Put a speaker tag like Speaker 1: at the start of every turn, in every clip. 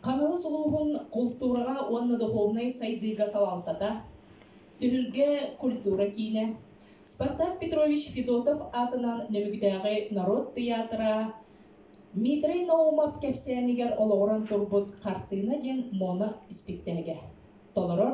Speaker 1: Хаҥалас улууһун култуураҕа уонна духовнай сайдыыга салалтата, Түһүлгэ культура киинэ, Спартак Петрович Федотов аатынан Нөмүгүтээҕи норуот тыйаатыра Митрэй Наумов кэпсээнигэр олоҕуран турбут «Хартыына» диэн моно испиктээгэ толорор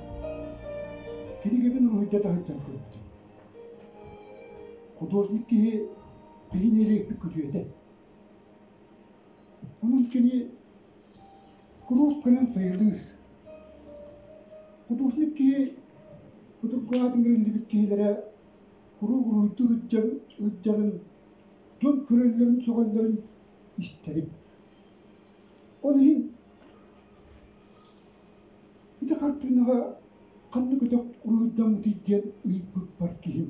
Speaker 1: Кинигэбин уруһуйда таһырдьан көрбүтүм. Художник киһи биһини элиэппит күтүөтэ. Онон кини куруук кэлэн сайылыыр. Художник киһи судургу аатын гэриллибит киһилэрэ куруук уруһуйдук ыддьарын, дьон көрөллөрүн, сөҕөллөрүн истэрим. Ол иһин Ити хартыынаҕа ханна көтөх уруйдаммытый диэн ыйыппыппар киһим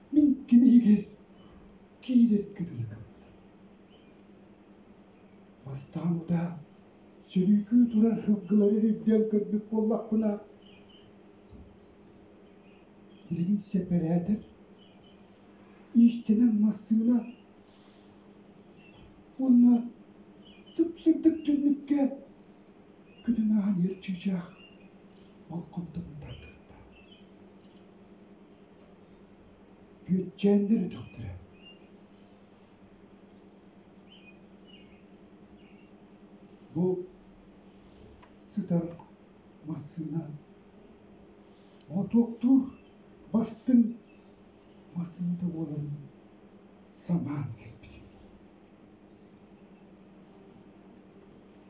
Speaker 1: Мин кини эгиз киирэр көтүлү гыммытым. Бастаан утаа сөрүүкүү турар һылгылары өйдөөн көрбүт буоллахпына, билигин сэпэрээтэр иистэнэн массыына уонна сып-сырдык түннүккэ күнүн аан эр чыычаах болкомтотун тардыахта. Бүөччээннэр өтөхтөрө бу сытар массыына мотуоктуур бастыҥ массыыната буолан самаан кэлбит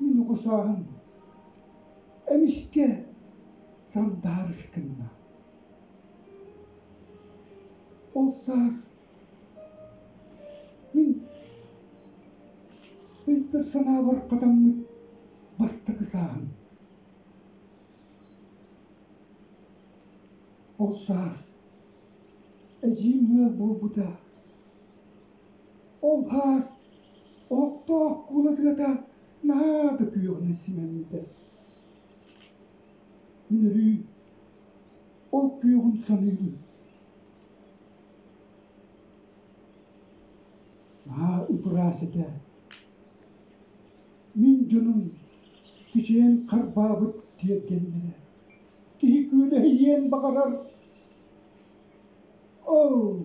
Speaker 1: Мин укусааһым эмискэ сандаарыс гынна. Ол саас мин өй-санаабар хатаммыт бастакы сааһым. Ол саас эдьиийим ыал буолбута Ол баар, Оһохтоох куулатыгата наһаа да күөҕүнэн симэммитэ. Мин өрүү ол күөҕүн саныыбын. Наһаа ып-ыраас этэ. Мин дьонум кичэйэн харбаабыт тиэргэннэрэ киһи күөлэһийиэн баҕарар. Оо!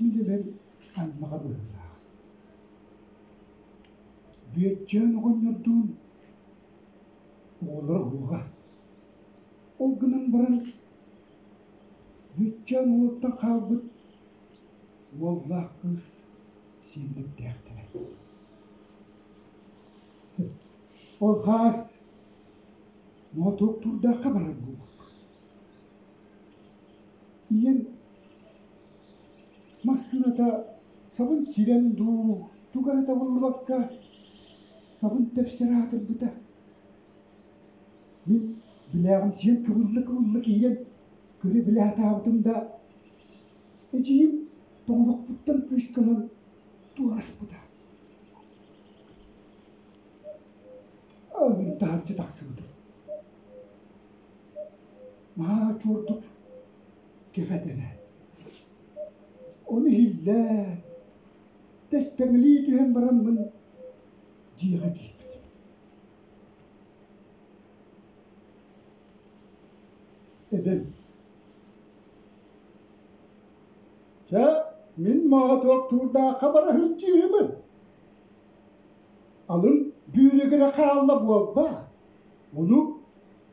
Speaker 1: Мин эбэм аймаҕа быһыылаах. Бүөччээн оҕонньордуун оҕолоро ууга. Ол гынан баран Бүөччээн уолуттан хаалбыт уоллаах кыыс сиэммиттээхтэрэ. Ол хаас Моотуоктуурдаахха барар буолбут. ийэм массыыната сабын сирэн дуу туга эрэ табыллыбакка сабын тэпсэр аатырбыта мин билээҕим сиэн кыбылла кыбылла киирэн көрө-билэ сатаабытым да эдьиийим тоҥолохпуттан кыысканан туораспыта ыллыын таһырдьа тахсыбытым наһаа чуордук кэфэтэнэ. Ону иһиллээн, тэспэҥилии түһэн бараммын, дьиэҕэ киирбитим. Эбэм Чэ, мин моотуоктуурдаахха бара сылдьыыһымын. Алын бүүрүгүрэ хаалла буолба? Ону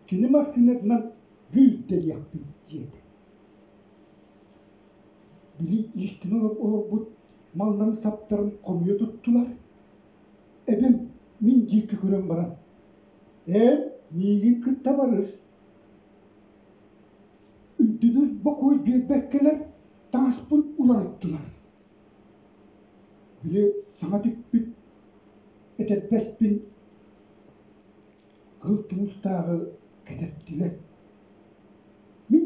Speaker 1: кини массыынатынан «гый» дэриэхпин диэтэ Били иистин олорбут малларын саптарын хомуйа туттулар. Эбэм мин диэки көрөн баран «Ээ, миигин кытта барыс, үрдүнү бокуой биэрбэккэлэр таҥаспын уларыттылар» Били саҥа тикпит этэрбэспин Кыл туустааҕы кэтэптилэр. Мин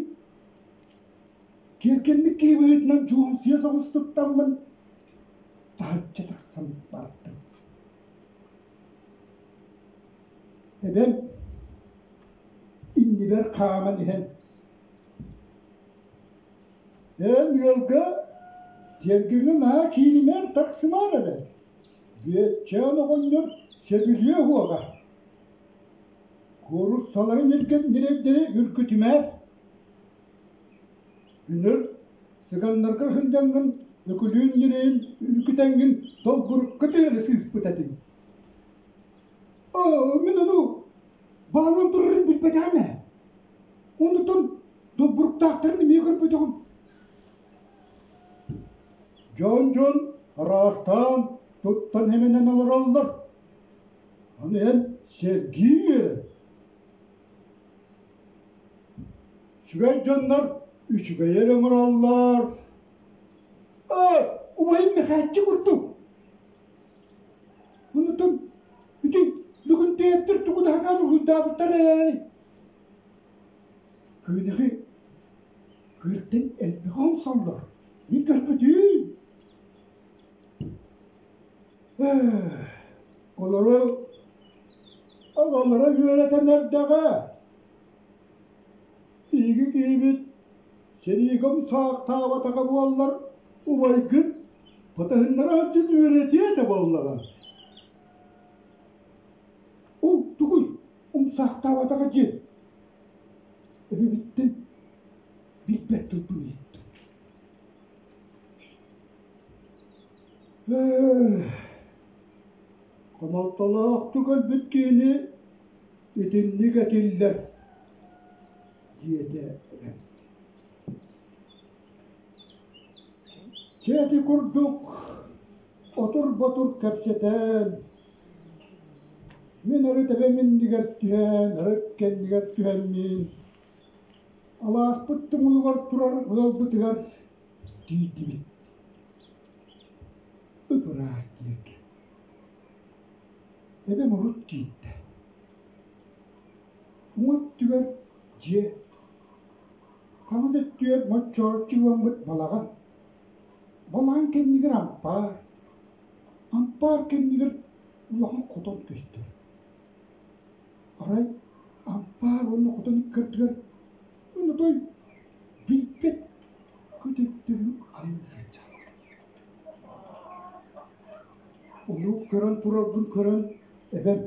Speaker 1: тиэргэммит киһи быһыытынан дьуоҥсуйа соҕус туттаммын, таһычча тахсан бардым. Эбэм иннибэр хааман иһэн «Эн ыалга тиэргэҥҥэ наһаа кииримээр, тахсымаар эрэ» Бүөччээн оҕонньор сөбүлүө уоҕа. Куоруссаларын эргэн ньирэйдэри үргүтүмээр. Үнэр сыганнарга сынньаҥҥын, өкүлүүн ньирэйин үргүтэҥҥин долбурукка түһэрэ сыыспыт этиҥ. Оо, мин ону баалым турарын билбэтэҕим ээ. Оннуттан долбуруктаахтарын эмиэ көрбөтөҕүм. Дьон дьон араахтаан туттан эмэнэн олороллор, аны эн сэргии үөрэн. Үчүгэй дьоннор үчүгэйи эрэ оҥороллор. Aa, убайым Мэхээччи курдук. Онутум, ити бүгүн театр тугу таһанаан уһуйдаабыттар ээ. Күнэхи Күртэн элбэҕи омсоллор, мин көрбөтүм Олору ололоро үөрэтэн эрдэҕэ. Биһиги киһибит сэриигэ умсаахтаабатаҕа буоллар убайгын хатыһыннара сылдьан үөрэтиэ этэ буоллаҕа. Ол тугуй умсаахтаабатаҕа дьиэ Өрүһүттэн билбэт тылбын ыйыттым Хомолтолоохтук өлбүт киһини итинник этиллэр диэтэ эбээм Чээди курдук отур-ботур кэпсэтэн, мин арыт эбэм иннигэр түһээн, арыт кэннигэр түһэммин, алаахпыт тумулугар турар ыалбытыгар тиийдибит. Ып-ыраас дииргэ. Эбэм урут киирдэ. Уҥа өттүгэр дьиэ Хаҥас өттүгэр моччооччу уоммут балаҕан. Балаҕан кэннигэр ампаар. Ампаар кэннигэр улахан хотон көстөр. Арай ампаар уонна хотон ыккардыгар онотой билбэт көтөрдөрүн анна сылдьар. Ону көрөн турарбын көрөн эбэм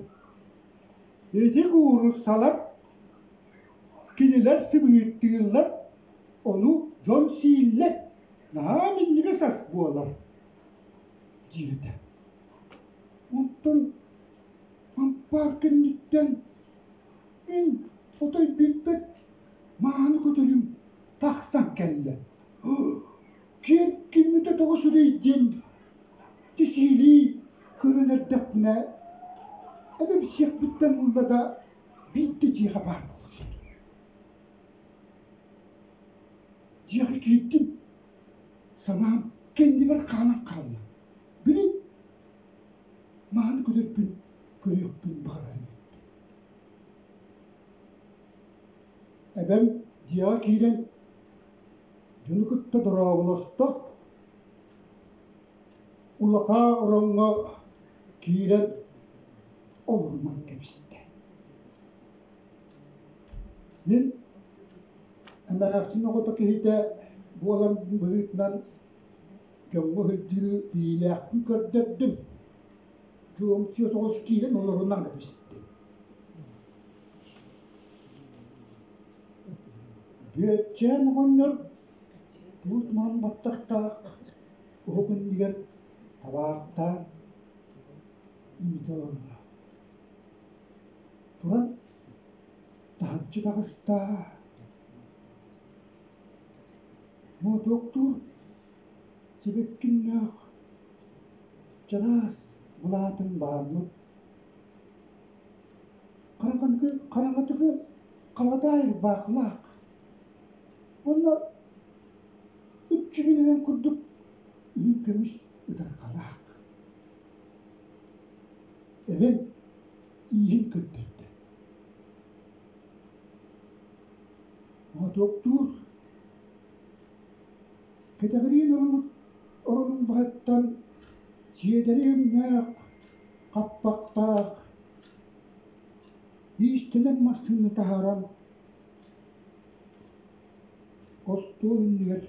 Speaker 1: ити куурусsalар Кинилэр сымыыттыыллар, ону дьон сииллэр, наһаа минньигэс ас буолар диэбитэ. Оттон ампаар кэнниттэн мин отой билбэт мааны көтөрүм тахсан кэллэ. Киэҥ киммитэ тоҕо сүрэй диэн тисиилии көрөн эрдэхпинэ, эбэм сиэхпиттэн булла да Биирдэ дьиэҕэ баар буола сыт. Дьиэҕэ киирдим, санаам кэннибэр хаалан хаалла. Били мааны көрөрбүн, көрүөхпүн баҕарарым эбиппин. Эбэм дьиэҕэ киирэн дьону кытта дорооболосто Улахан ороҥҥо киирэн олорунан кэбистэ. Мин эмээхсин оҕото киһитэ буолан быһыытынан дьоҥҥо сылдьыы илиилээхпин көрдөрдүм. Чуомсуйа соҕус киирэн олорунан кэбистим. Бүөччээн оҕонньор туус маҥан баттахтаах Уһук иннигэр табаахтаан иитэ олордо. Туран таһыччы таҕыста. Моотуоктуур сибэккиннээх чараас былаатын бааммыт хараҥатыгы хараҥатыгы халатаайыр баахылаах уонна Үччүгүн ылан курдук иһин көмүс ытарҕалаах эбэм ииһин көрдөрдө. Мотуоктуур кэтэҕириин оронут оронумбаһыттан сиэдэри өҥнөөх хаппахтаах иистэнэн массыына таһааран остуол иннигэр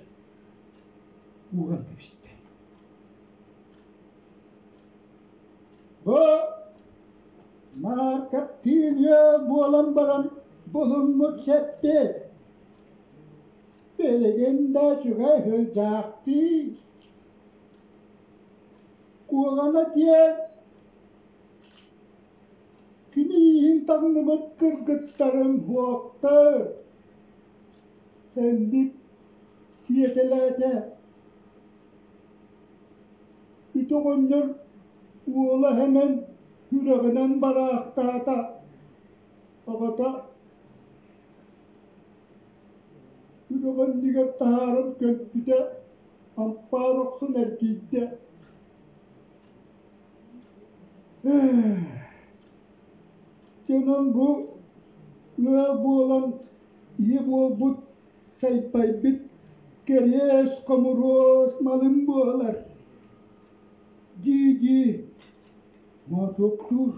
Speaker 1: ууран кэбистэ бо маркоптилья буолан баран булуммут сэппит билигин да чугай сылдьаахтыы куоҕана диэн Кини ииһин таҥныбыт кыргыттарым уоптар Хэнник сиэтэлээтэ Ити оҕонньор уола Сэмэн сүрэҕинэн бараахтаата Аҕата сүрэҕин иннигэр таһааран көмпүтэ ампаар охсон эргийдэ Дьонун бу ыал буолан ийэ буолбут сайпайбыт кэриэс хомуруос малым буолар дии-дии моотуоктуур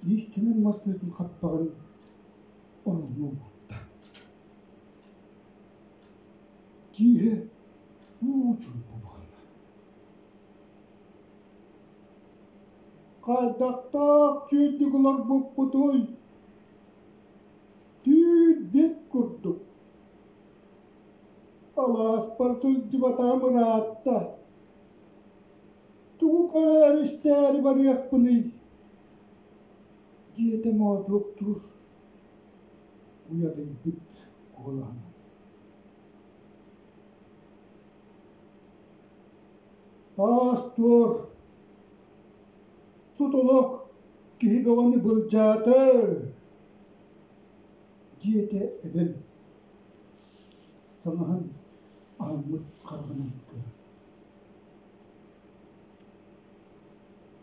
Speaker 1: иистэнэн мас тыатын хаппаҕын ороҥҥо уурда дьиэ уу чуумпу буолла Хайдахтаах чэйдик олорбуппутуй? Түүрбэт курдук. Алааспар сылдьыбатаҕым ыраатта. Тугу көрөөр истээри барыахпыный? диэтэ моотуоктуур уйадыйбыт куолаһынан. Аас-туор, сут олох киһи бөҕөнү былдьаатар, диэтэ эбэм санаһан аһыммыт хараҕынан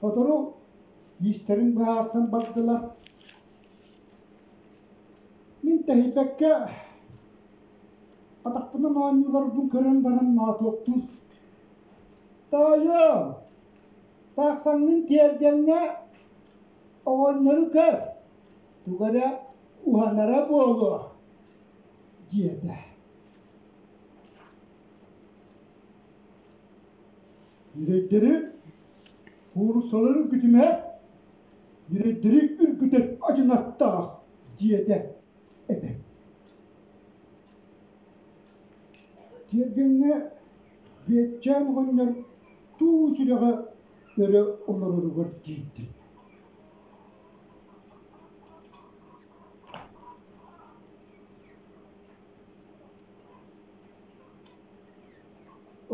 Speaker 1: Сотору иистэрин быһаарсан бардылар. Мин тэһийбэккэ атахпынан оонньууларбын көрөн баран моотуоктуур тоойуо тахсаҥҥын тиэргэҥҥэ оҕонньору көр туга эрэ уһанара буолуо диэтэ ньирэйдэри куурусаларын күтүмэ ньирэйдэри үргүтэр адьынаттаах диэтэ Тиэргэҥҥэ Бүөччээн оҕонньор туу сүрэҕэ өрө олороругар киирдим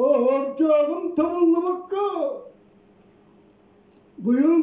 Speaker 1: Оһордьооҕум табыллыбакка быйыл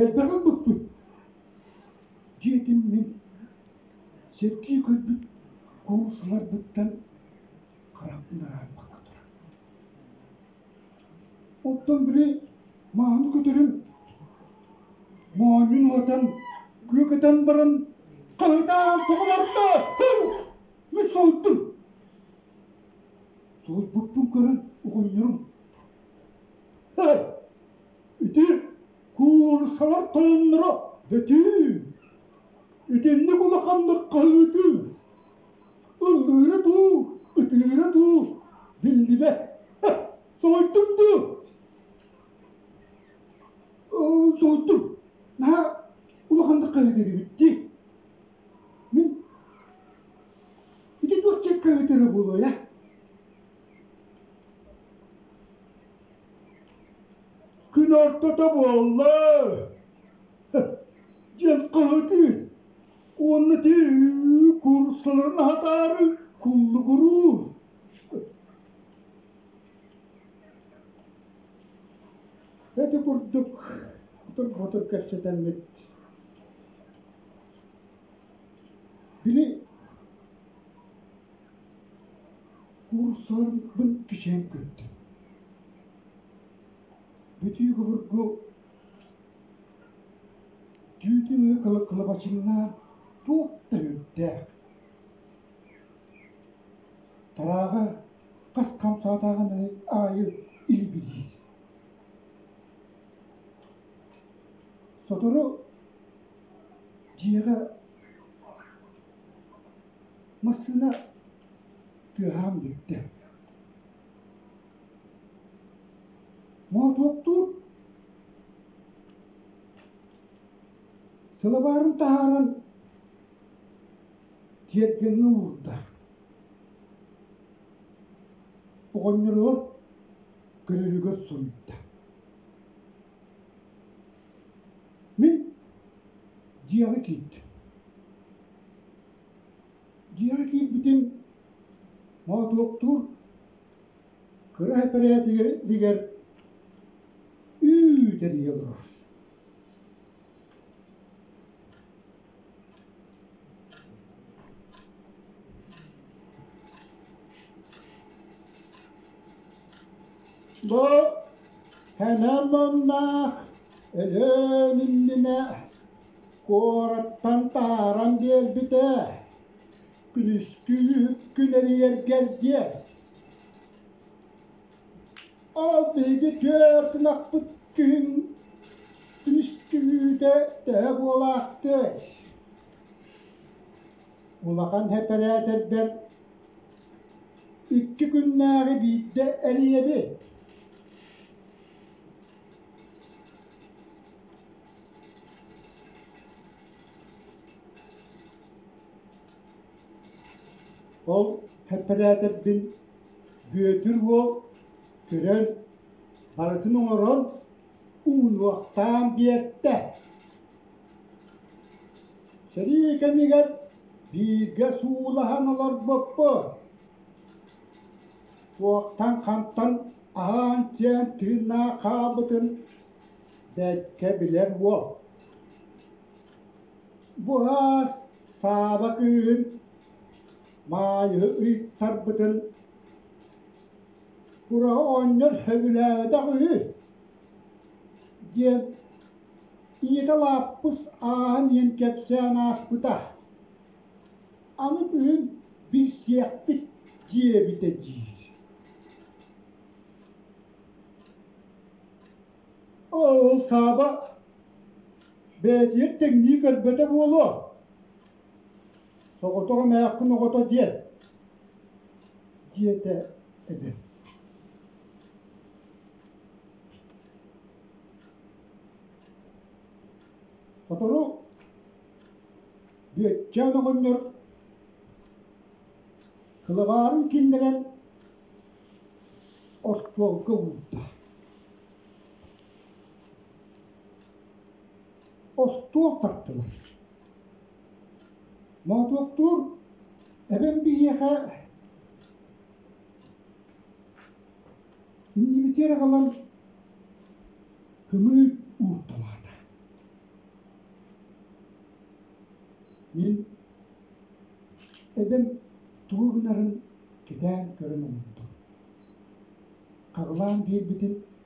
Speaker 1: Эрдэҕин быкпыт, диэтим мин сэргии көрбүт куурусаларбыттан харахпын араарбакка турар. Оттон били мааны көтөрүн моонньун уотан күөкэтэн баран хаһытаан тоҕуларда. Мен соһуттум. Соһуйбуппун көрөн угунньурум. Ити куурусалар тоонноро бөтүүн, итинник улаханнык хаһыытыыр, ыллыыра дуу, ытыыра дуу биллибэт. Соһуйдум дуу? Соһуйдум. Наһаа улаханнык хаһыытырыбыт дии. Мин ити туох дьэ хаһыытыра буолуой а? Күн ортото буолла. Дьыл кыһытыыр уонна түү курсаларын аһатаары куллугуруур. Эти курдук кутур-кутур кэпсэтэммит. Били Уурсаларбын кичээн көрдүм Бүтүү обургу түүтүн өрө кылабачыҥнаан туох да үрдээх Тарааҕа хас хам саатааҕын аайы илибириир Сотору дьиэҕэ Массыына тыаһаан бүттэ. Моотуоктуур сылабаарын таһааран тиэргэҥҥэ уурда. Оҕонньоругар көрөрүгэр суруйда. Мин дьиэҕэ киир дьиэҕэ киирбитим моотуоктуур кыра эпэрээдигэр үүт эрийэ олорор Бу хэнэ муннаах Өлөөн иннинэ куораттан тааран биэрбитэ күнүскү күн эрийэргэр диэн Ол биһиги түөрт ынахпыт күһүн түмүстүүтэ төһө буолаахтыай улахан эпэрээтэрбэр икки күннээҕи биирдэ эрийэбин ол эпэрээтэрбин Бүөтүр уол көрөн, барытын оҥорон, уунуохтаан биэртэ Сэрии кэмигэр бииргэ суулаһан олорбуппут. Туохтан-хантан аһаан-сиэн тыыннаах хаалбытын бэркэ билэр уол. Бу аас Сааба кыыһын Маайа ыйыттарбытын «Кура оонньор сөбүлээбэтэх үһү» диэн ийэтэ Лааппыс ааһан иһэн кэпсээн ааспыта. Аны бүгүн билсиэхпит диэбитэ диир Ол Сааба бэйэтигэр тэҥнии көрбөтө буолуо Соҕотох эмээххин оҕото диэн, диэтэ эбэ. Сотору Бүөччээн оҕонньор кылаҕаарын киллэрэн остуолга уурда. Остуол тартылар. Моотуоктуур эбэм биһиэхэ иннибитигэр аҕалан кымыы уурталаата. Мин эбэм тугу гынарын кэтээн көрөн умуттум. Хаҕылаан биэрбитин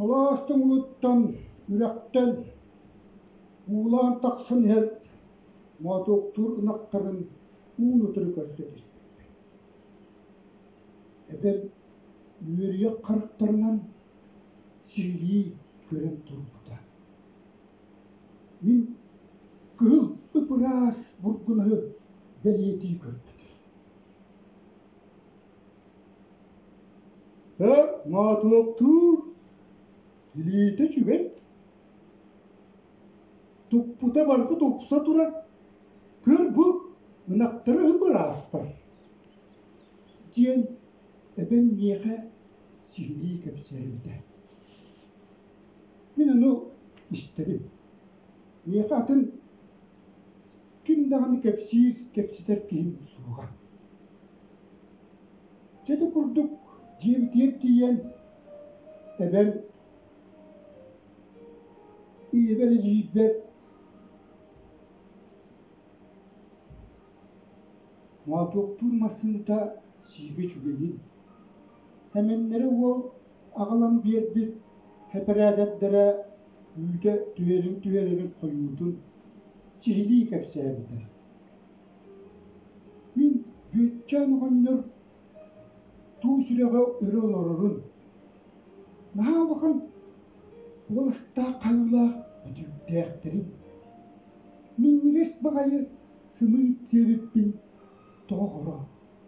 Speaker 1: Алаас туҥугуттан үрэхтэн уулаан тахсан иһэр моотуоктуур ынахтарын уун утары көрсө түспүппүт. Эдэр үөрүйэх харахтарынан сиһилии көрөн турбута. Мин кыһыл ып-ыраас бургунаһы бэлиэтии көрбүтүм. Өр моотуоктуур, илиитэ үчүгэй. Туппута барҕа тупса турар. Көр бу, ынахтара үһү быраастар. диэн эбэм миэхэ сиһилии кэпсээбитэ. Мин ону истэрим. Миэхэ атын ким даҕаны кэпсиир, кэпсэтэр киһим суоҕа. Чэ да курдук дьиэбитигэр тиийэн эбэм ийэбэр эдьиийбэр моотуоктуур массыыната сиигэ чугаһыын. Эмэннэрэ уол аҕалан биэрбит эпэрээдэктэрэ үүтэ түһэрин түһэрэрин хойуутун сиһилии кэпсээбитэ мин Бүөтчээн оҕонньор туу сүрэҕэ өрө олорорун наһаа улахан уолаттаах хайуулаах бүтүүктээхтэрин минньигэс баҕайы сымыыт сиэбиппин тоҕо хоро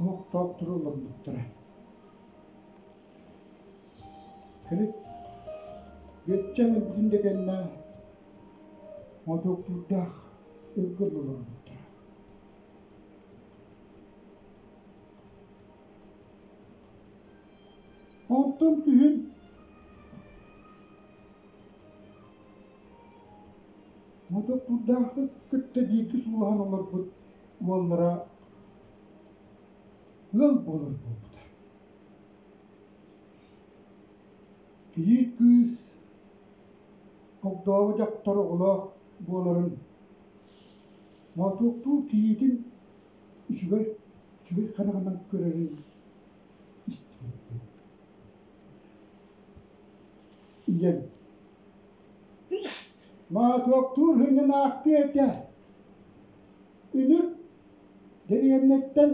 Speaker 1: Оһохтоох туру олорбуттара. Кырык Бөтчөҥ эргин дэгэннэ мотуоктуйдаах ыргын олорбуттара. Онтон күһүн мотуоктуйдаахты кытта бииргэ суулаһан олорбут уоллара ыал буолар буолбута. Кийиит кыыс огдообо дьахтар оҕолоох буоларын Моотуоктуу кийиитин үчүгэй үчүгэй хараҕынан көрөрүн истибиппин. Ийэм Моотуоктуур һыҥынаахтыы этэ, үнүр дэриэбинэттэн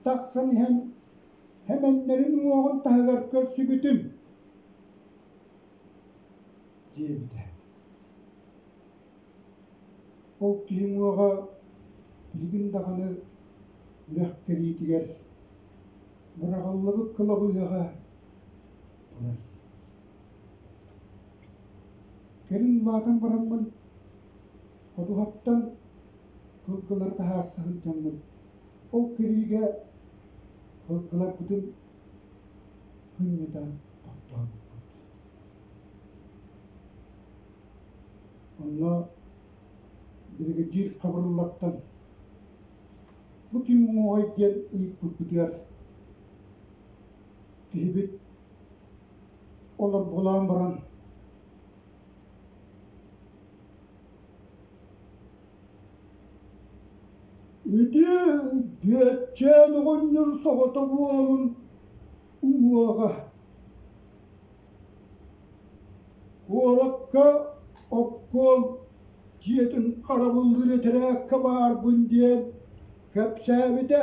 Speaker 1: тахсан иһэн Сэмэннэрин уҥуоҕун таһыгар көрсүбүтүн диэбитэ. Ол киһи уҥуоҕа билигин даҕаны үрэх кэриитигэр быраҕыллыбыт кылабыйаҕа турар. Кэлин улаатан бараммын, ходуһаттан кылгылары таһаарса сылдьаммын, ол кэриигэ кылгыларбытын хынньыта тохтообуппут. Онно бригадир хабырыллаттан «Бу ким уҥуоҕай?» диэн ыйыппыппытыгар киһибит олорбулаан баран ити Бүөччээн оҕонньор соҕото буолун уҥуоҕа куоракка обком дьиэтин харабыллыыр этэрээккэ баарбын диэн кэпсээбитэ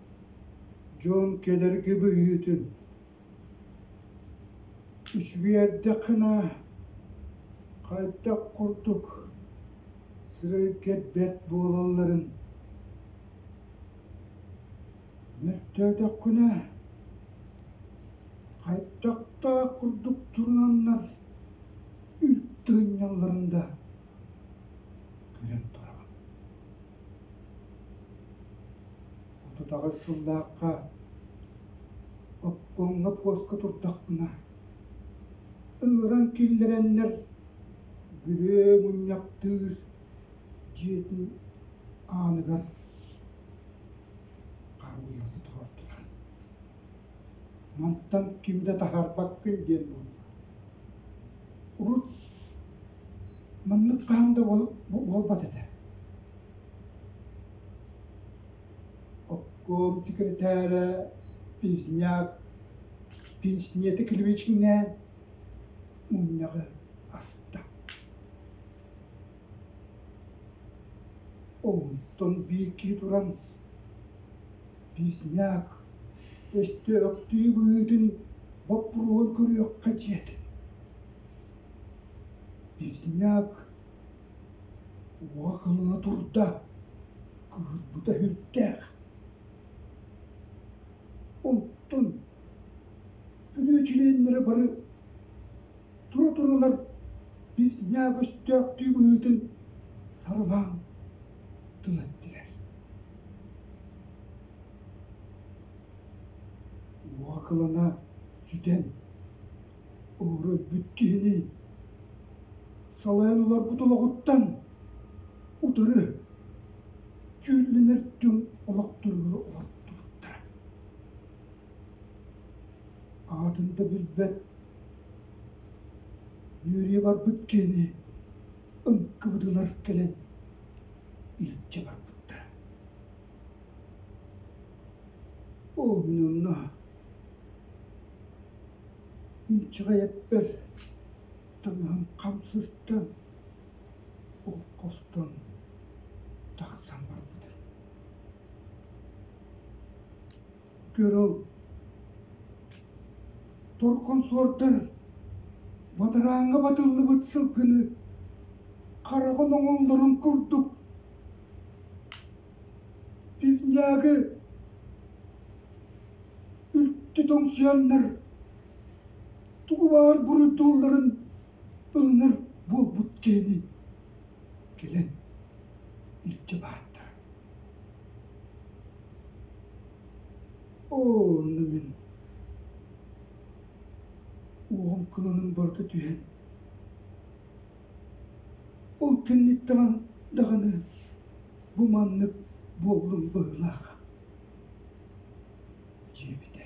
Speaker 1: дьон кедерги быһыытын үчүгэйдиэххинэ хайдах курдук сирэйгэ бэрт буолалларын мөлтөөтөххүнэ хайдахтаах курдук туруналлар үлтү ынньалларын да көрөн турабын отутаҕыс сыллаахха оккуоҥҥа буоска турдахпына ыҥыран киллэрэннэр бүрүө мунньахтыыр дьиэтин ааныгар харбыйа сотоҕордулар Мантан ким да таһаарбаккын диэн буолла урут маннык хаһан да буолбат этэ Оккуом сэкирэтээрэ Песняк пенснете клевичкинээн мунньаҕы аста Оҕуттан биирдии туран песняк өстөөхтүү быһыытын боппуруоһун көрүөххэ диэт песняк уоҕа кылына турда кыырбыта үрдээх онтон бүрүчүлэннэрэ бары тура-туралар ньаа көстөөхтүү быһыытын сарылаан тыл эттилэр уокылана сүтэн өрбүт киһини салайан олорбут олоҕуттан утары дьүүллэнэр түҥ олохторугар олортубуттара аатын да билбэт үөрүйэ барбыт киһини ыккыбытылар кэлэн илдьэ барбыттара оо мин онно инчэҕэй эппэр таҥаһым хам сыстан ол хостон тахсан барбытым Көрүҥ, торконсордар бадарааҥҥа батыллыбыт сылгыны хараҕын оҥоллорун курдук пивняга үлтү тоҥсуйаннар тугу баар буруйдуулларын ылынар буолбут киһини кэлэн илдьэ баартар оо мин уоҕум кыланан барыта түһэн ол кэнниттэҕэ даҕаны бу маннык буолуум быһыылаах дьиэбитэ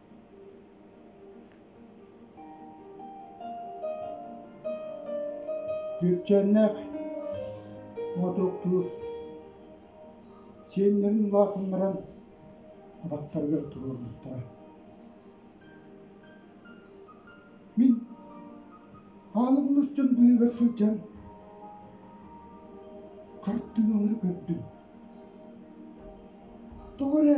Speaker 1: Дьүпчэннээх мотуктуур сиэннэрин улаатыннаран атахтарыгар туруорбуттара. Мин аалым нусчун быыгар сылдьан хартыыналары көрдүм. Тоҕо эрэ